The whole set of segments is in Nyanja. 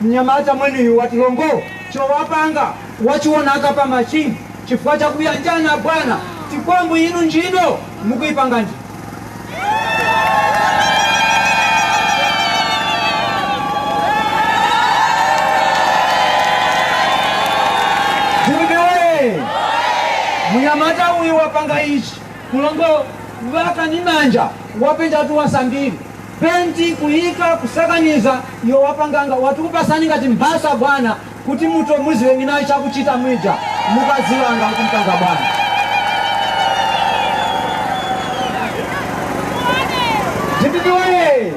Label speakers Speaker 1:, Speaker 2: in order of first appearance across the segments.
Speaker 1: Mnyamata mwenuyu wati lombo chowapanga wachiwonaka pa machine chifukwa cha kuyanjana abwana tikwambu inu ntchito mukuipanga ndi. Dziwike woye! Mnyamata uyu wapanga ichi ku lombo waka ndi manja wapenjatu wasambiri. penti kuyika kusakaniza iwe wapanganga wati kupasani ngati mphasa bwana kuti muto muziwe nginayo chakuchita mwija mukaziwa anga kuti mpanga bwana Jititi waye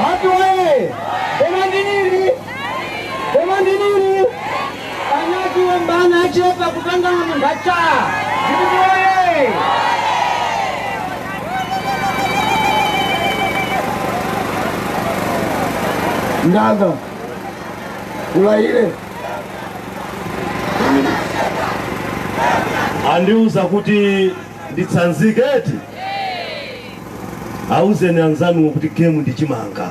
Speaker 1: watu waye koma ndinili koma ndinili Panyazi obana achepa
Speaker 2: kupangana ndata. Dpp
Speaker 3: woyee! Ndaka kulaile andiuza kuti nditsanzike eti auzeni anzanuwo kuti game ndi chimanga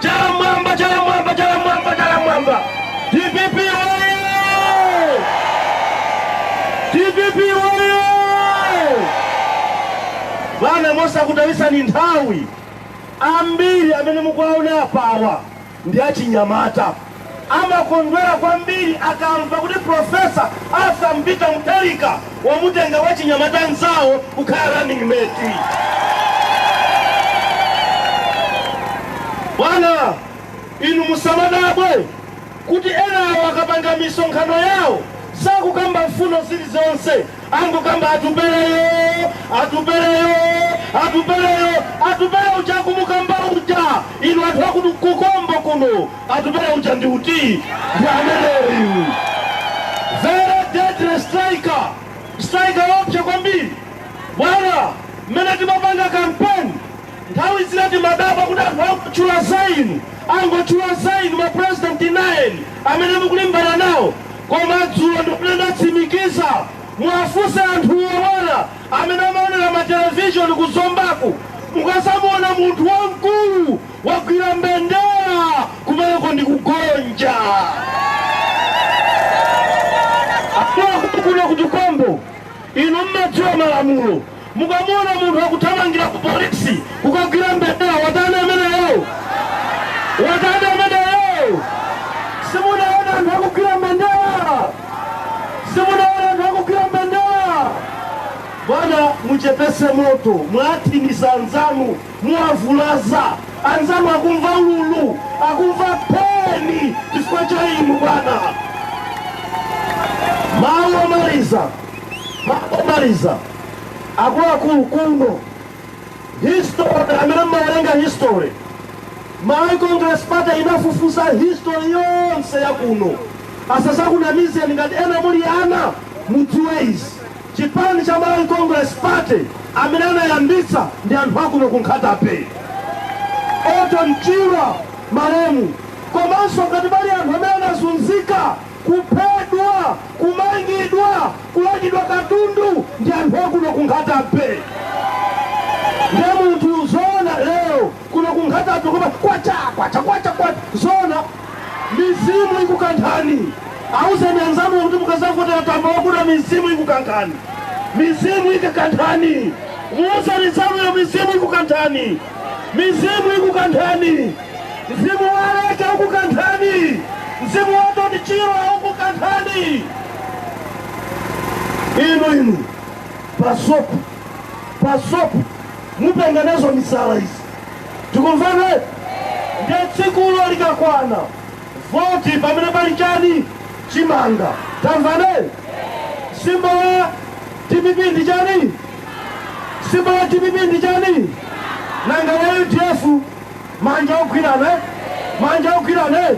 Speaker 3: Chala mwamba, chala mwamba, chala mwamba, chala mwamba. DPP oye! DPP oye! Bana mosakutayisani nthawi ambiri amene mukuwaona apawa ndi achinyamata Amakondwera kwambiri akamva kuti Professor Arthur Peter Mutharika wamutenga wachinyamata nzawo kukhala running mate. Bwana, inu musamadabwe kuti enawo akapanga misonkhano yawo sakukamba mfundo zilizonse, angokamba atupeleyo, atupeleyo, atupeleyo, atupeleyo uja akumukamba uja, inu anthu aku Tukombo kuno Atupele uja ndi uti? Ndi ameneyu. Very deadly striker. Striker woopsa kwambiri. Bwana, mmene timapanga campaign, nthawi zina timadabwa kuti anthu angotchula za inu, angotchula za inu ma president 9 amene mukulimbana nawo. Koma dzulo ndimene ndatsimikiza muwafunse anthuwo bwana amene amaonera ma television ku Zombaku mukadzamuona munthu wamkulu Wagwira mbendera kumeneko ndi kugonja. Akuno ku Tukombo inu mmadziwa malamulo. Mukamuona munthu akuthamangira ku polisi kukagwira mbendera, watani ameneyo? Watani ameneyo? Simunaona anthu akugwira mbendera? Simunaona anthu akugwira mbendera? Bwana, muchepese moto, muwathinisa anzanu. Muwavulaza anzanu, akumva ululu, akumva peni chifukwa cha inu bwana. Mawu omaliza, mawu omaliza, akuluakulu kuno history amene mmawerenga history malawi congress party inafufuza history yonse ya kuno asazakunamizeni ngati ena muli ana mudziwe izi Chipani cha Malawi Congress Party amene anayambitsa ndi anthu akuno ku Nkhata Bay, Orton Chirwa malemu, komanso ngati pali anthu amene anazunzika, kuphedwa, kumangidwa, kulandidwa katundu ndi anthu akuno ku Nkhata Bay. Nde munthu zoona lero Kuno ku Nkhatabe koma kwacha kwacha kwacha kwacha zoona mizimu ikukanthani auzeni anzanu kuti mukazavotera tambala wakuda mizimu ikukanthani mizimu ikakanthani muuzeni nzanuyo mizimu ikukanthani mizimu ikukanthani mzimu wa aleke ukukanthani mzimu wa orton chirwa ukukanthani inu inu pasopu pasopu mupenga nazo misala izi tikumvana eti nde tsikulo likakwana voti pamene pali chani chimanga tamvana eti symbol ya dpp ndi chani symbol ya dpp ndi chani nanga wa udf Manja ogwirana eh? Manja ogwirana eh?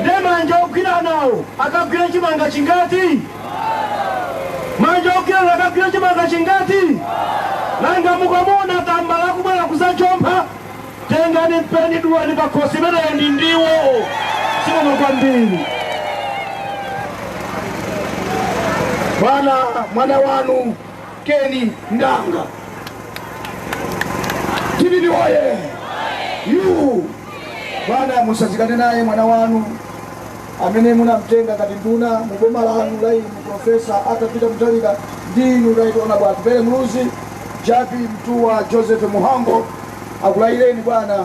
Speaker 3: Nde manja ogwiranawo akagwira chimanga chingati? Manja ogwirana akagwira chimanga chingati? Nanga mukamuona tambala akubwera kuzachompha, tengani mpeni dulani pakhosi imeneyo ndi ndiwo. Zikomo
Speaker 2: kwambiri. Bwana mwana wanu Ken Ndanga. DPP oye! Yu! Bwana musazikane naye mwana wanu amene munamtenga ngati nduna mu boma lanu la inu profesa Arthur Peter Mutharika ndi inu right honorable Atupele Muluzi, Jappie Mtuwa, Joseph Mhango akulayireni bwana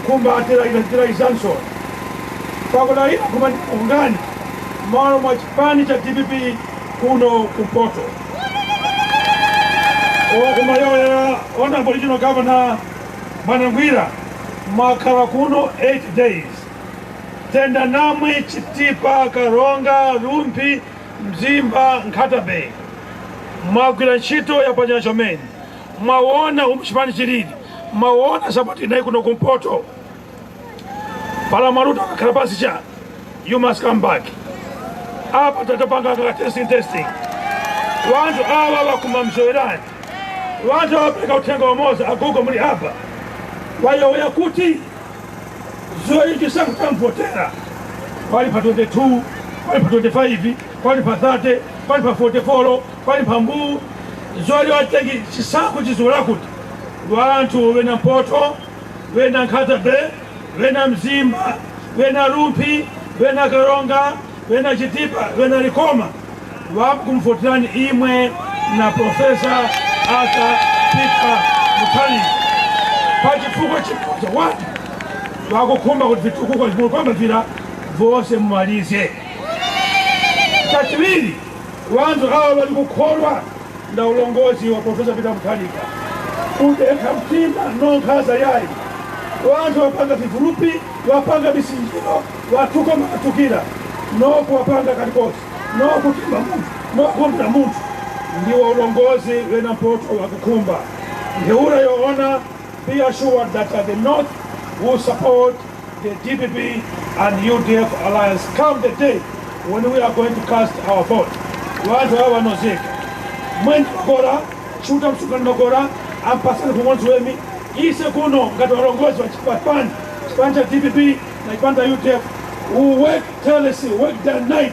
Speaker 3: Nkhumba atilaila njila izanso pakudalira khumba ndi pukutani malo mwa chipani cha dpp kuno kumpoto okumaleolera honorable regional governor bwana ngwira mwakhala kuno 8 days tenda namwe chitipa karonga rumphi mzimba nkhata bay mwagwira ntchito yapachanya chomene mwawona umu chipani chilili mwawona sapoti inayi kuno kumpoto pala mwaluta akakhala pasi cha you must come back apa tatapanga kaka testing testing wanthu awa wakuma mzowerani wanthu wapereka uthenga wamoza agogo muli apa wayowoya kuti zoichi sakutamvotera wali pa 22 wali pa 25 wali pa 30 wali pa 44 Pali mphambu zoti watengi chisankho chizikhala kuti lwa anthu wena Mpoto, wena Nkhata Bay, wena Mzimba, wena Rumphi, wena Karonga, wena Chitipa, wena Likoma wakumvoterani imwe na Professor Arthur Peter Mutharika pa chifukwa chimoja wati wakukhumba kuti vitukuko vimwe kwamba vira vonse mumalize chachiwiri Wanthu awa bali kukholwa na ulongozi wa Profesa Peter Mutharika. Kudekha mtima no nkhaza yayi. Wanthu wapanga vivulupi, wapanga misinjiro, wathuka makathukira, no kuwapanga kalikosi, no kutimba munthu, no kumbira munthu. Ndiwo ulongozi wena mpoto wakukhumba. Ntheura yoona, be assured that the North will support the dpp and udf alliance come the day when we are going to cast our vote wanthu awa vanozeka mweni kora chuta msukani makora ampasani kumwenzi wemi ise kuno ngati walongozi wa chipani chipani cha dpp na chipani cha udf we work tirelessly work day and night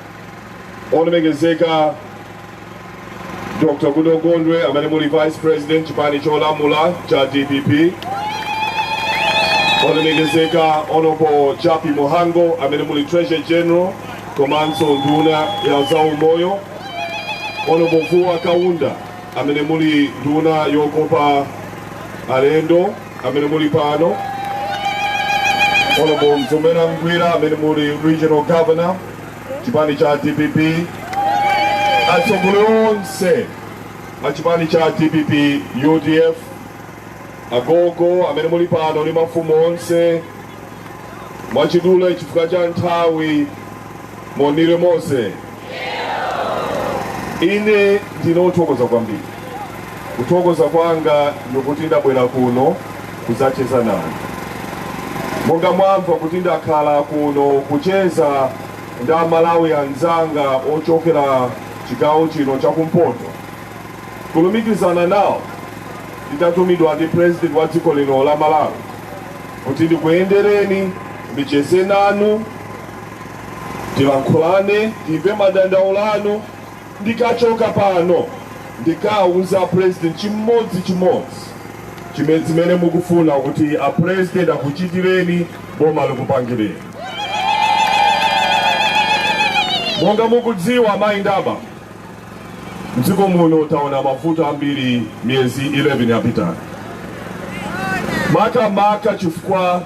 Speaker 3: olemekezeka Dr. Goodall Gondwe amene muli Vice President chipani cholamula cha DPP, olemekezeka Honorable Jappie Mhango amene muli Treasurer General komanso nduna ya zaumoyo, Honorable Vuwa Kaunda amene muli nduna yokopa alendo amene muli pano, Honorable Mzomera Ngwira amene muli Regional Governor chipani cha dpp atsogoleri onse a chipani cha dpp udf agogo amene muli pano ndi mafumu onse mwachidule chifukwa cha nthawi monire mose ine ndinothokoza kwambiri Kuthokoza kwanga ndikuti ndabwera kuno kudzacheza nanu. Monga mwamva kuti ndakhala kuno kucheza ndi a Malawi anzanga ochokera chigawo chino cha kumpoto, kulumikizana nawo nditatumidwa ndi President wa dziko lino la Malawi kuti ndikuyendereni ndicheze nanu, tilankhulane, timve madandaulo anu Ndikachoka pano ndikauza a president chimodzi chimodzi chime zimene mukufuna kuti a president akuchitireni boma likupangireni. Monga mukudziwa amayi ndi abambo mdziko muno taona mavuto ambiri miyezi 11 yapitayo makamaka chifukwa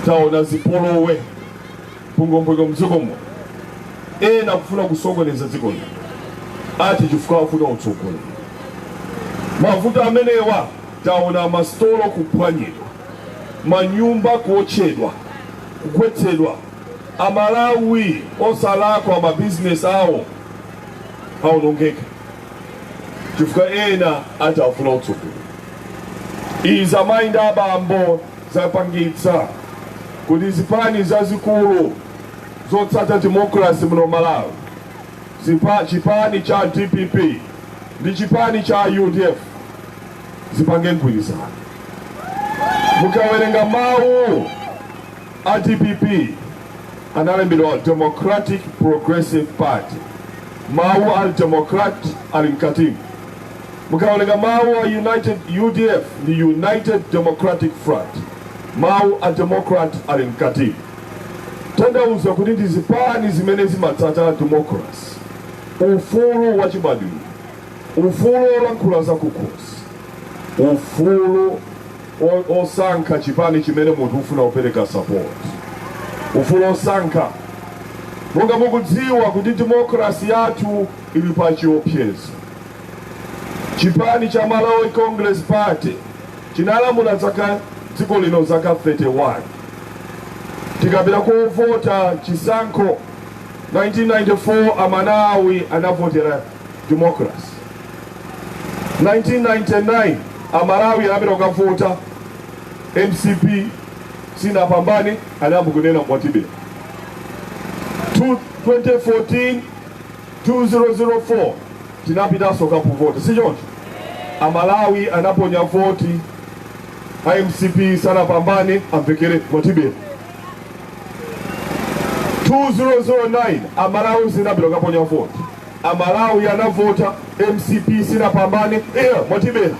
Speaker 3: taona zipolowe. mpungwempungwe mdzikomo ena kufuna kusokoneza dziko lino ati chifukwa afuna utsogoleri mavuto amenewa taona masitolo kuphwanyidwa manyumba kuotchedwa kugwetsedwa amalawi osalakwa mabizinesi awo aonongeka chifukwa ena ati afuna utsogoleri izi amayi ndi abambo zapangitsa kuti zipani zazikulu zotsata democracy muno Malawi chipani cha dpp ndi chipani cha udf zipange mgwirizano mukawerenga mawu a dpp analembedwa democratic progressive party mawu a democrat ali mkatimu Mukawerenga mawu a United udf ni United Democratic Front, mawu a Democrat ali mkatimu. Tanthauza kuti ndi zipani zimene zimatsata democracy, ufulu wachibadwidwe, ufulu wolankhula zakukhosi, ufulu wosankha chipani chimene munthu ufuna kupereka support, ufulu wosankha. Monga mukudziwa kuti democracy yathu ili pachiopsezo. Chipani cha Malawi Congress Party chinalamulira zaka dziko lino zaka 31 tinapita kovota chisankho 1994 amalawi anavotera democracy 1999 amalawi anapita kukavota mcp sinapambane anayamba kunena mwatibera 2014 2004 tinapitanso kukavota sichoncho amalawi anaponya voti a mcp sanapambane amvekere mwatibera 2009 amalawi anapita kaponya voti amalawi anavota mcp sinapambane eya mwatibera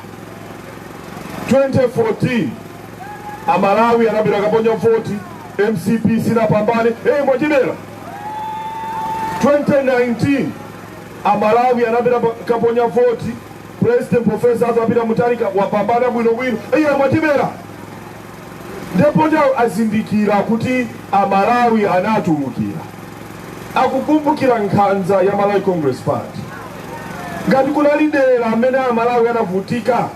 Speaker 3: 2014 amalawi anapita kaponya voti mcp sinapambane eyi mwatibera 2019 amalawi anapita pa- kaponya voti president profesa Arthur Peter Mutharika wapambana bwinobwino iye mwatibera ndipo nde azindikira kuti amalawi anatulukira akukumbukira nkhanza ya malawi congress party ngati kuna dera amene amalawi anavutika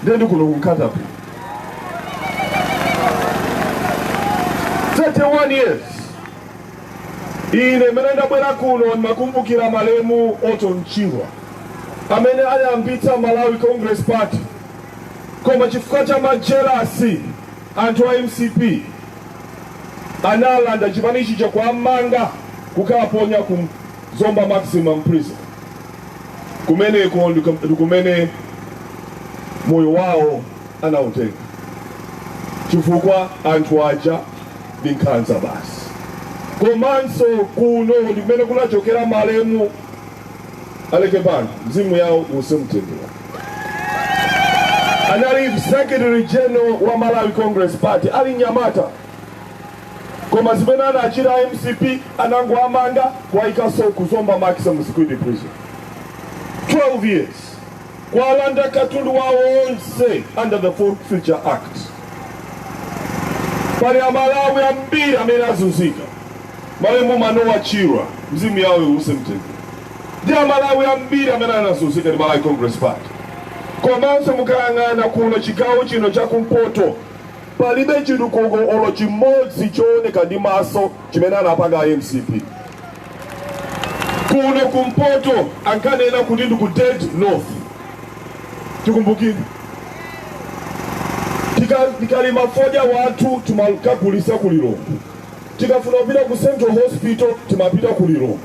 Speaker 3: nde ndi kuno ku Nkhata Bay 31 years Ine mene ndabwera kuno ndimakumbukira malemu Orton Chirwa amene anayambitsa Malawi Congress Party, koma chifukwa cha majelasi anthu a MCP analanda chipanichi nkuwamanga kukaponya ku Zomba Maximum Prison. Kumeneko ndiku- ndikumene moyo wawo anautenga chifukwa anthu aja ndi nkhanza basi komanso kuno ndi kumene kunachokera malemu Aleke Banda mzimu yawo uwuse mumtendere anali secretary general wa malawi congress party ali nyamata koma zimene anachita mcp anangoamanga kuwaikaso kuzomba maximum security prison 12 years Kwalanda katundu wawo onse under the Forfeiture Act. Pali amalawi ambiri amene azunzika malemu Manowa Chirwa mzimu yawo iwuse mumtendere ndi amalawi ambiri amene anazunzika ndi Malawi Congress Party komanso mukayang'ana kuno chigawo chino chakumpoto palibe chitukuko olo chimodzi chooneka ndi maso chimene anapanga a mcp kuno kumpoto ankanena kuti ndi ku dead north tikumbukire Tika- tikalima fodya wathu timakagulisa ku lilongwe tikafuna kupita ku central hospital timapita ku lilongwe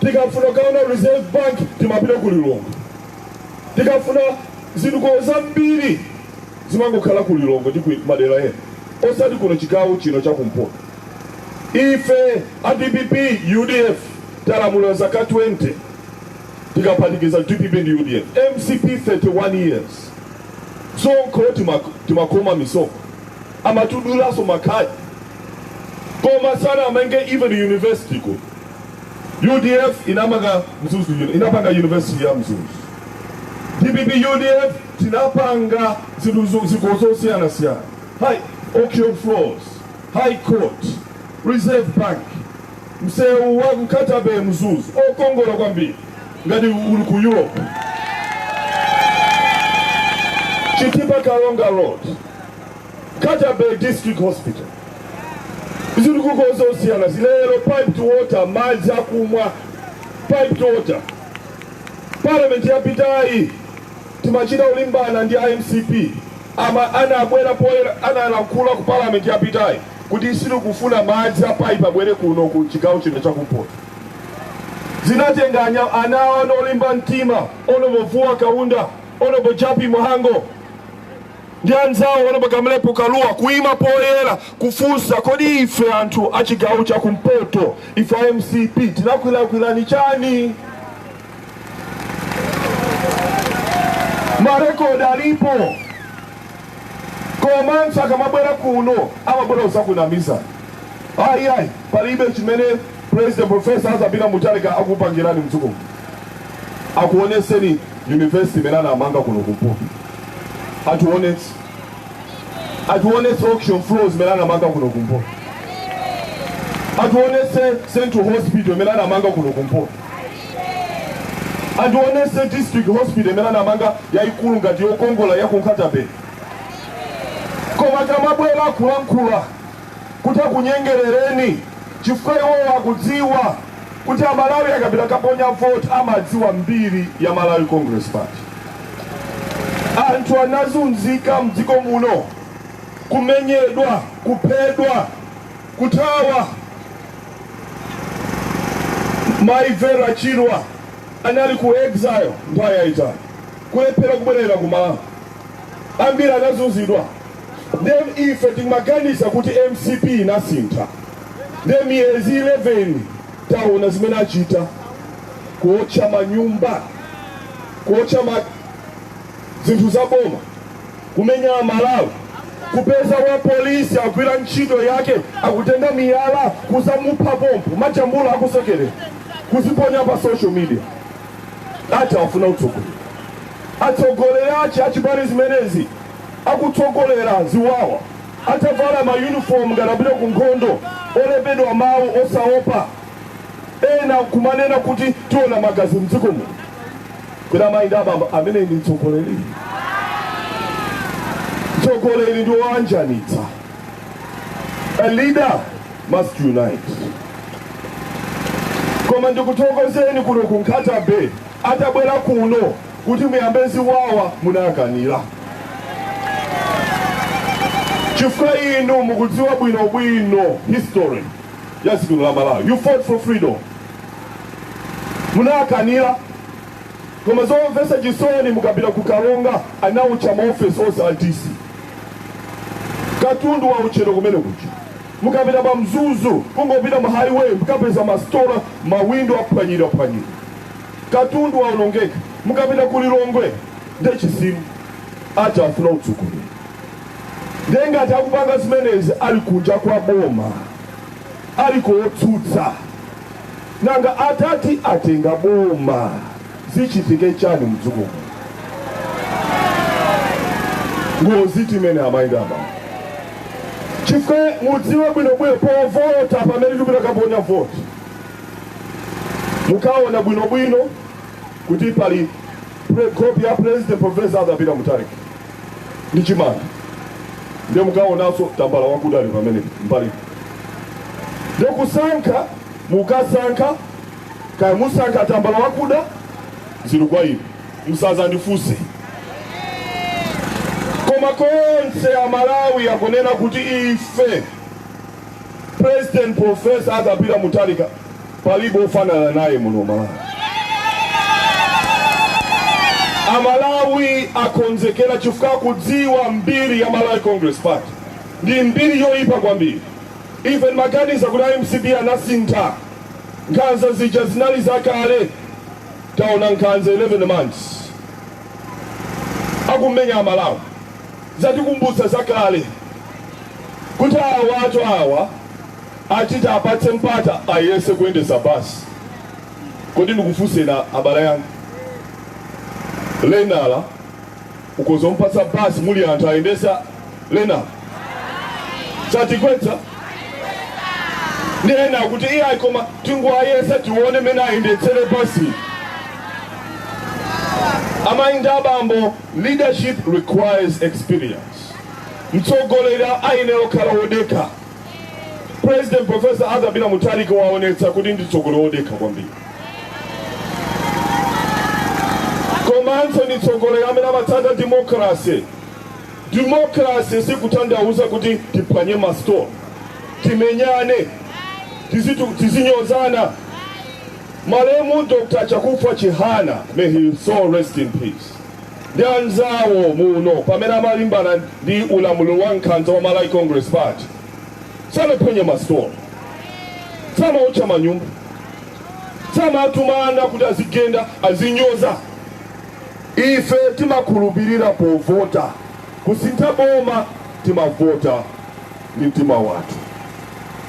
Speaker 3: tikafuna kukaona reserve bank timapita ku lilongwe tikafuna zitukuko zambiri zimangokhala ku lilongwe ndi ku madera ena osati kuno chigawo chino chakumpoto Ife a dpp, udf talamula zaka 20 tikaphatikiza dpp ndi udf, mcp 31 years msonkho timakhoma misonkho amatidulanso makhadi koma sanamange even university kuno udf inamanga mzuzu inapanga university ya mzuzu dpp udf tinapanga zitukuko zosiyanasiyana hi auction floors High court, Reserve Bank, msewu wa Nkhata Bay Mzuzu wokongola kwambiri ngati uli ku Europe. Chitipa Karonga Road, Nkhata Bay District Hospital. Zitukuko zosiyanasiyana lero piped water, madzi akumwa piped water. Parliament yapitayi timachita kulimbana ndi a MCP A Ma anabwera poyera analankhula ku parliament yapitayi kuti sitikufuna madzi a pipe abwere kuno ku chigawo chino cha kumpoto. Zinatenga ana awa ana olimba mtima Hon. Vuwa Kaunda, Hon. Jappie Mhango ndi anzawo Hon. Kamlepo Kalua kuima poyera kufunsa kodi ife anthu a chigawo cha kumpoto, ife a mcp tinakulakwirani chani? marekodi alipo koma anthu akamabwera kuno amabwera kudzakunamizani ayi ayi palibe chimene president professor arthur peter mutharika akupangirani mdziko akuonetseni university imene anamanga kuno kumpoto atiwonetse atiwonetse auction floors imene anamanga kuno kumpoto atiwonetse central hospital imene anamanga kuno kumpoto Atiwonetse district hospital imene anamanga yaikulu ngati yokongola ya ku Nkhata-bay. Koma akamabwera kulankhula kuti akunyengerereni chifukwa iwowo akudziwa kuti Amalawi akapita kukaponya vote amadziwa mbiri ya Malawi Congress Party. Anthu anazunzika m'dziko muno, kumenyedwa, kuphedwa, Kuthawa Mai Vera Chirwa anali ku exile nthawi yaitali, kulephera kubwerera ku Malawi, ambiri anazunzidwa. Nde ife timaganiza kuti mcp inasintha, nde miyezi 11 taona zimene achita, kuotcha manyumba, kuotcha ma zinthu za boma. kumenya amalawi kupeza wa polisi agwira ntchito yake akutenga miyala kuzamupha pompo majambula akusekerera kuziponya pa social media ati afuna utsogoleri atsogoleri achi achipani zimenezi akutsogolera ziwawa atavala mayunifomu ngati apita ku nkhondo olembedwa mawu osaopa Ena nkumanena kuti tiona magazi mdziko muno. Kodi amayi ndi abambo, ameneyi ndi mtsogoleri? Mtsogoleri ndi woanjanitsa. A leader must unite. Koma ndikuthokozeni kuno ku Nkhata Bay atabwera kuno kuti muyambe ziwawa munakanira. Chifukwa inu mukudziwa bwinobwino history. ya dziko la Malawi. You fought for freedom. Munakanira koma zomvetsa chisoni mukapita ku Karonga anawotcha maofesi onse a DC katundu wawotchedwa kumene kuja mukapita pa Mzuzu kungopita mu highway mukapeza masitola mawindo aphwanyira phwanyira katundu waonongeka mukapita ku Lilongwe nde chisimu ati afuna utsogoleri Ndiye ngati akupanga zimenezi ali kunja kwa boma, ali kotsutsa, nanga atati atenga boma zichitike chani mdziko muno? Ngozitu imeneyi amayi ndi abambo chifukwa mudziwe bwinobwino povota pamene tikupita kaponya voti mukaona bwinobwino kuti pali nkhope ya president professor Arthur Peter Mutharika ndi chimanga ndiye mukaonanso tambala wakuda ali pamene mbali ndiye kusankha mukasankha kaya musankha tambala wakuda zili kwa inu musazandifunse koma konse amalawi akunena kuti ife president profesa Arthur Peter Mutharika palibe ofanana naye muno malawi amalawi akonzekera chifukwa kudziwa mbiri ya malawi congress party ndi mbiri yoyipa kwambiri ife ndimaganiza kuti a mcp anasintha nkhanza zija zinali zakale taona nkhanza 11 months akumenya amalawi zatikumbutsa zakale kuti awatu awa Ati tiwapatse mpata ayese kuyendetsa basi kodi ndikufuseni abale anga lenala ukoza kumpatsa basi muli anthu ayendetsa lenala satigwetsa ndi ena kuti iyayi koma tingoayesa tione mene ayendetsere basi amayi ndi abambo leadership requires experience mtsogoleri ayenera kukhala wodekha President Professor Arthur Peter Mutharika waonetsa kuti ndi mtsogoleri wodekha kwambiri komanso ndi mtsogoleri amene amatsata democracy democracy sikutanthauza kuti tiphwanye masitolo timenyane tizitu- tizinyozana malemu dr chakufwa chihana may his soul rest in peace ndi anzawo muno pamene amalimbana ndi ulamuliro wa nkhanza wa Malawi Congress Party sanaphwanye masitolo samaotcha manyumba samatumana kuti azigenda azinyoza ife timakhulupirira povota kusintha boma timavota ndi mtima wathu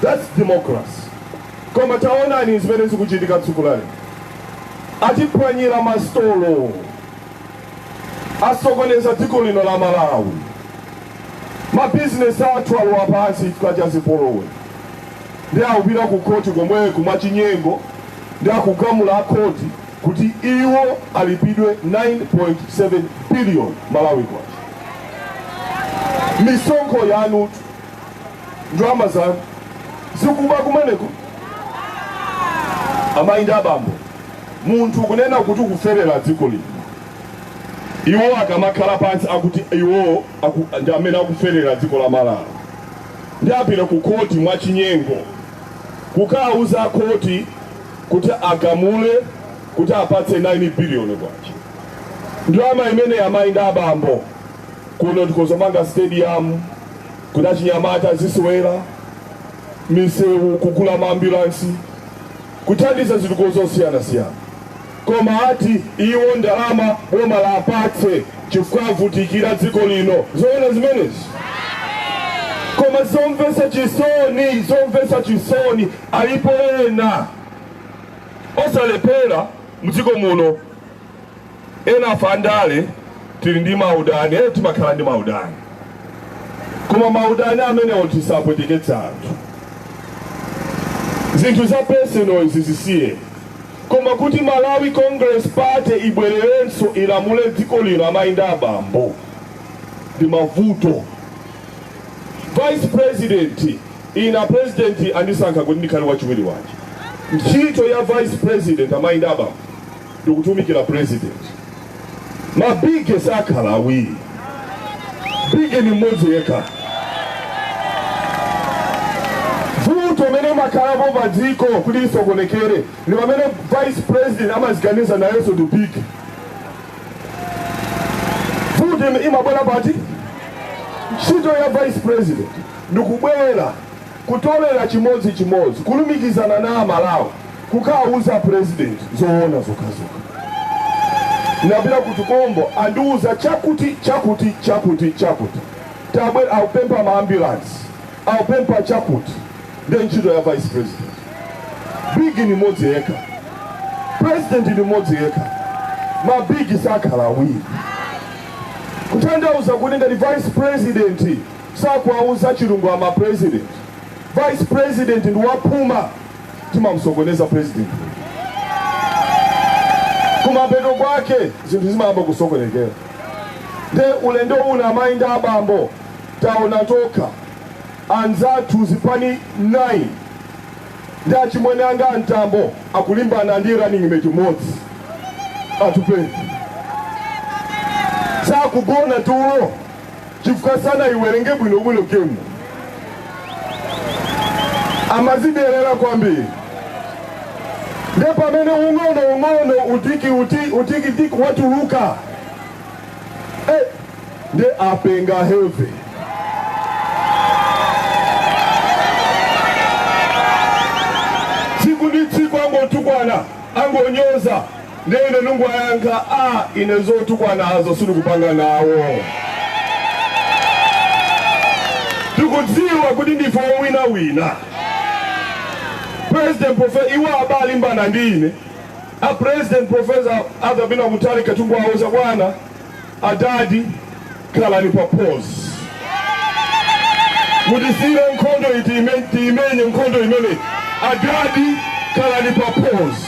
Speaker 3: that's democracy koma taonani zimene zikuchitika tsiku lali atiphwanyira masitolo asokoneza dziko lino la malawi mabizinesi athu alowa pansi chifukwa cha zipolowe ndi akupita ku khoti komweku mwachinyengo ndi akugamula akhoti kuti iwo alipidwe 9.7 billion malawi kwacha misonkho yanutu ndalama zanu sikuba kumeneko amayi ndi abambo munthu kunena kuti ukuferera dziko lino iwo akamakhala pansi akuti iwo aku, ndi amene akuferera dziko la malawi ndi apita ku koti mwachinyengo kukauza koti kuti agamule kuti apatse 9 biliyoni kwacha ndalama imene amayi ndi abambo kuno tikozomanga stadium Kuti achinyamata azisewera, misewu, kugula maambulansi, kuthandiza zitukuko zosiyanasiyana. Koma ati iwo ndalama boma lapatse chifukwa avutikira dziko lino. Zoona zimenezi? Koma zomvetsa chisoni, zomvetsa chisoni, alipo ena osalephera mdziko muno. Enafe a ndale tili ndi maudani ee timakhala ndi maudani koma maudani amenewo tisapweteketse anthu zinthu za personal zisiye koma kuti malawi congress party ibwererenso ilamule dziko lino amayi ndi abambo ndi mavuto vice president ine president andisankha kuti ndikhale wachiwiri wache ntchito ya vice president amayi ndi abambo ndikutumikira president mabige sakhala awiri bige ni mmodzi yekha vuto limene limakhalapo pa dziko kuti lisokonekere ndi pamene vice president amaziganiza nayenso ndi bige vuto ime- imabwera pati ntchito ya vice president ndikubwera Kutolera chimodzi chimodzi kulumikizana na amalawi kukauza president zoona zokhazokha. Napita ku Tukombo andiuza chakuti chakuti chakuti chakuti tabwera akupempha ma ambulance akupempha chakuti nde ntchito ya vice president. Big ni modzi yekha president ni modzi yekha ma big sakhala awiri kutanthauza kuti ngati vice president Sakuwauza chilungama president, vice president ndi waphuma timamusokoneza president kumapeto kwake zinthu zimayamba kusokonekera. Nde ulendo uno amayi ndi abambo taona tokha anzathu zipani 9 ndi achimwene anga a Mtambo akulimbana ndi running mate modzi Atupele sakugona tulo chifukwa sanaiwerenge bwino bwino game amazidelera kwambiri nde pamene ung'ono ung'ono tikiti utiki tiki watuluka eh, nde apenga heavy tsiku ndi tsiku angotukwana angonyoza ndiye ine ndikuwayankha aa ine zotukwanazo sindikupanga nawo tikudziwa kuti ndife owinawina president profesa iwo abalimbana ndi ine a president profesa Arthur Peter Mutharika thungu awo zakwana Adadi khalani pa pause. Mutisiire nkhondo iyi tiime- tiimenye nkhondo imeneyi. Adadi khalani pa pause.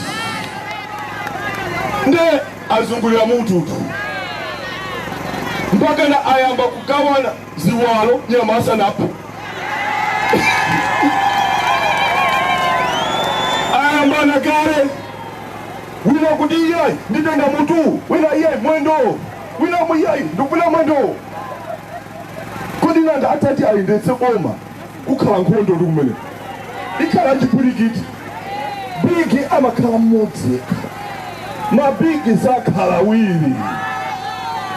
Speaker 3: Nde azungulira mututu mpakana ayamba kugawana ziwalo nyama asanaphe. Ayambana kale Wina akuti iyayi nditenga mutuwu, wina iyayi mwendowo, wina amvekere iyayi ndikupita mwendowo. Kodi nanga atati ayendetse boma kukakhala nkhondo ndi komwe ikhala chipwirikiti? Bigi amakhala mmodzi yekha, mabigi sakhala awiri.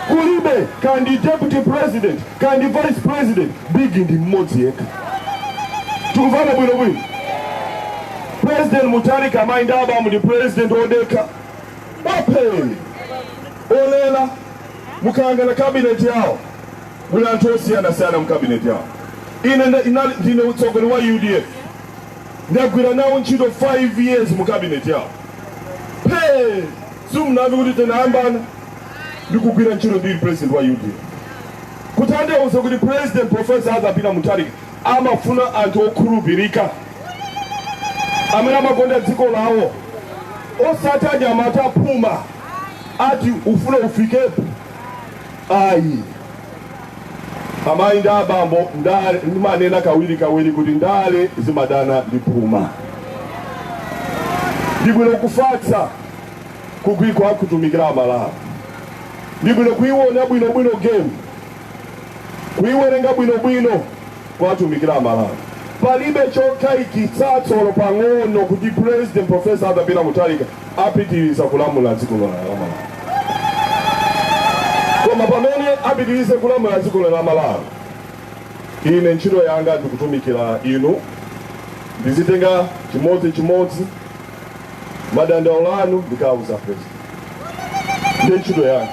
Speaker 3: Kulibe kandi deputy president kandi vice president, bigi ndi mmodzi yekha. Tikuvana bwino bwino. President Mutharika amayi ndi abambo ndi president odekha wa phee olera mukayang'ana kabineti yawo muli anthu osiyanasiyana mu kabineti yawo ine nda- inali- ndine utsogoleri wa udf ndagwira nawo ntchito 5 years mu kabineti yawo phe simunamve kuti tinayambana ndikugwira ntchito ndili president wa udf kuthandauza kuti president professor azapita mutharika amafuna anthu okhulupirika amene amakonda dziko lawo osati anyamata aphuma oti akufuna afikepo ayi amayi ndi abambo ndale ndimanena kawiri kawiri kuti ndale zimadana ndi phuma ndibwino kufatsa kugwikwa kutumikira amalawi ndibwino kuiwona bwinobwino game kuiwerenga bwinobwino kuwatumikira amalawi palibe chokayikitsatso olo pang'ono kuti president profesa arthur peter mutharika apitiriza kulamula dziko lino la malawi koma pamene apitirize kulamula dziko lino la malawi ine ntchito yanga ndikutumikira inu ndizitenga chimodzi chimodzi madandaulo anu ndikawauza president ndi ntchito yanga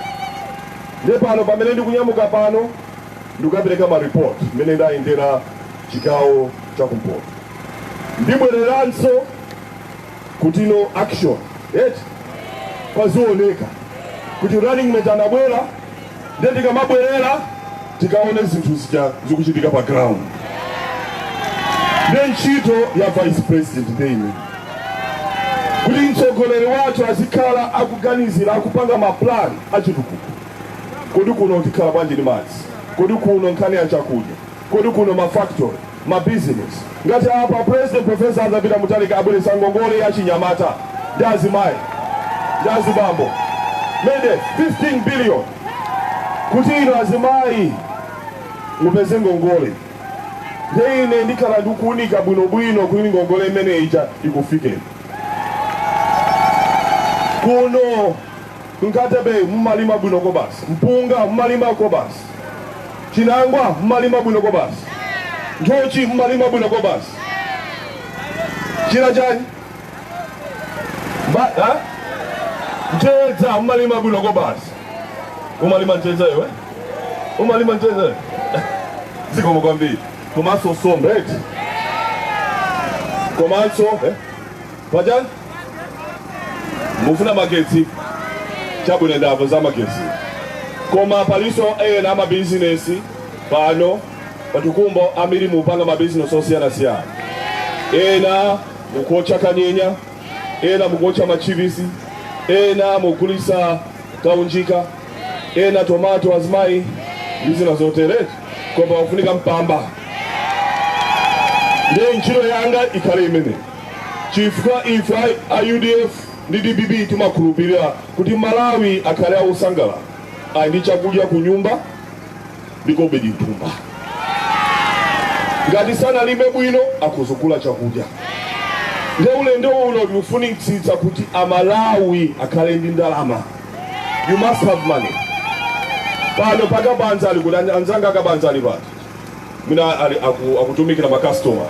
Speaker 3: Nde pano pamene ndikunyamuka pano ndikukapereka ma report mmene ndayendera chigawo cha kumpoto ndibwereranso kutinso action eti pazioneka kuti running mate anabwera nde ndikamabwerera tikaone zinthu zija zikuchitika pa ground nde ntchito ya vice president ndiye ine kuti mtsogoleri wathu azikhala akuganizira akupanga maplan achitukuko kodi kuno tikhala bwanji ndi madzi kodi kuno nkhani ya chakudya kodi kuno mafactory mabizinesi ngati apa president profesa arthur peter mutharika abweresa ngongole ya chinyamata ndi azimayi ndi azibambo ndende 15 billion kuti inu azimayi mupeze ngongole Nde ine ndikhala ndikuunika bwino bwino kuti ngongole imene ija ikufikeni. Kuno ku Nkhatabay mumalima bwino kobasi, mpunga mumalima kobasi, chinangwa mumalima bwino kobasi, nthochi mumalima bwino kobasi. China chani? Ma- eh? mtedza mumalima bwino kobasi umalima mtedza iwe umalima mtedza iwe? zikomo kwambiri komanso nsomba eti komanso eh? panjani mufuna magetsi chabwino ndamva za magetsi koma palinso ena amabizinesi pano patukumbo ambiri mupanga mabizinesi osiyanasiyana ena mukuotcha kanyenya ena mukuotcha machipisi ena mugulisa kaunjika ena tomato azimayi ndi zina zotereti koma wafunika mpamba ndiye ntchito yanga ikhale imene chifukwa ife a- a udf ndi dpp timakhulupirira kuti amalawi akhale akusangalala ali ndi chakudya ku nyumba ndi kobiri mthumba ngati sanalime bwino akadzigula chakudya nde ulendo uno tikufunitsitsa kuti amalawi akhale ndi ndalama you must have money pano pakabanza ali kuti anzanga akabanza ali pati amene ali aku- akutumikira makastoma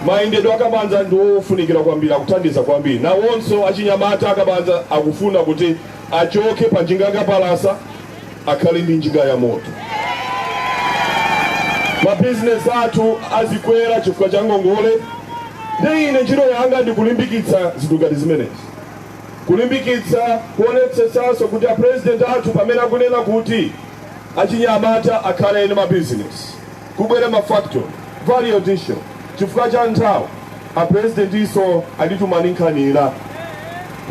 Speaker 3: mayendedwe akabanza ndiwofunikira kwambiri akuthandiza kwambiri nawonso achinyamata akabanza akufuna kuti achoke pa njinga yakapalasa akhale ndi njinga ya moto mabizinesi athu azikwera chifukwa cha ngongole nde ine ntchito yanga ndikulimbikitsa zinthu ngati zimenezi kulimbikitsa kuonetsetsanso kuti apurezidenti athu pamene akunena kuti achinyamata akhale ndi mabizinesi Kubwera ma factory value addition chifukwa cha nthawi a presidentinso anditumanso nkhani ina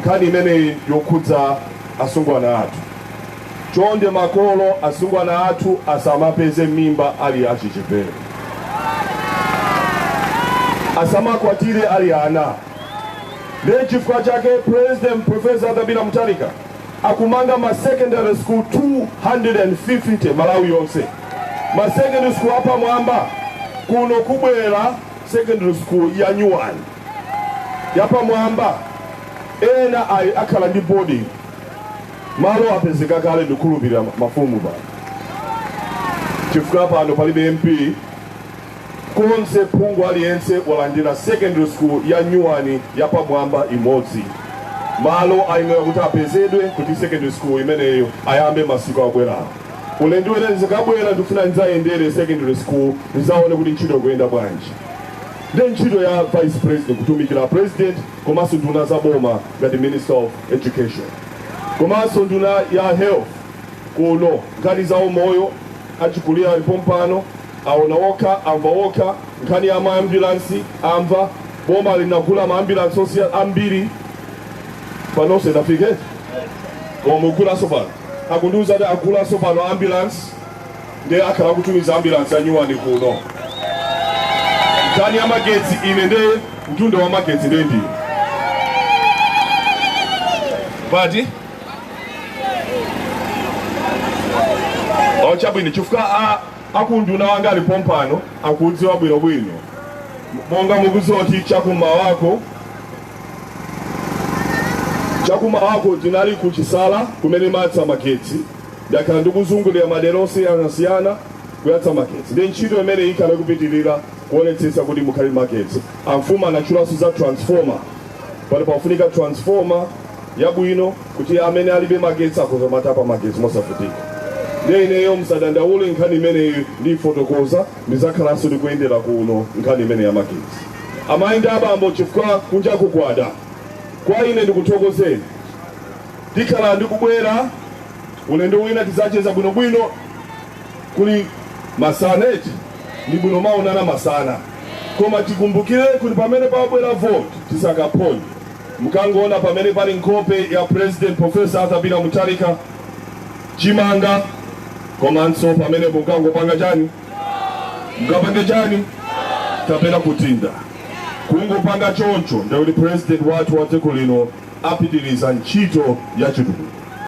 Speaker 3: nkhani imeneyi yokhudza asungwana athu chonde makolo asungwana athu asamapeze mimba ali achichepere asamakwatire ali ana ndiye chifukwa chake president professor arthur peter mutharika akumanga ma secondary school 250 malawi yonse ma secondary school apamwamba kuno kubwera secondary school ya nyuwani yapamwamba inayi ikhala ndi boarding malo apezeka kale ndikhulupirira mafumu pano chifukwa pano palibe mp konse phungu aliyense walandira secondary school ya nyuwani yapamwamba imodzi malo ayenera kuti apezedwe kuti secondary school imeneyo ayambe masiku akubwerawa ulendo wina ndizakabwera ndikufuna ndidzayendere secondary school ndizaone kuti ntchito ikuyenda bwanji ndi ntchito ya vice president kutumikira president komanso nduna za boma ngati minister of education komanso nduna ya health kuno nkhani za umoyo achikulira ali pompano Aona okha, amva okha, nkhani ya ma ambulance amva, boma linagula ma ambulance ambiri panonso inafika koma akugulanso pano akundiuza kuti agulanso pano ambulance ndiye akhala akutumiza ambulance anyuwani kuno nkhani ya magetsi ine nde nduna ya magetsi nde ndiyo pati ochabwino chifukwa a Aku unduna wanga ali pompano akudziwa bwino bwino. Monga mukudziwa kuti chakumawako chakumawako tinali ku Chisala kumene timayatsa magetsi ndakhala ndikuzungulira madera osiyanasiyana kuyatsa magetsi ndi ntchito imene ikhala ikupitirira kuonetsetsa kuti mukhale magetsi amfumu anatchulanso za transformer pano pakufunika transformer yabwino kuti amene alibe magetsi akhoza kumatapa magetsi mosavutika. Ndiye ineyo musadandaule nkhani imeneyi ndiifotokoza, ndidzakhalanso ndikuyendera kuno nkhani imeneyi ya magetsi. Amayi ndi abambo, chifukwa kunjaku kwada, kwa ine ndikuthokozeni. Ndikhala ndikubwera ulendo wina tidzacheza bwinobwino kuli masana eti ndi bwino kumaonana masana koma tikumbukire kuti pamene pabwera vote tisakaphonye Mukangoona pamene pali nkhope ya President Professor Arthur Peter Mutharika, chimanga komanso pamenepo mukangopanga chani, mukapange chani kapena kudinda kungopanga choncho, ndikuti president wathu wa dziko lino apitiriza ntchito ya chitukuko.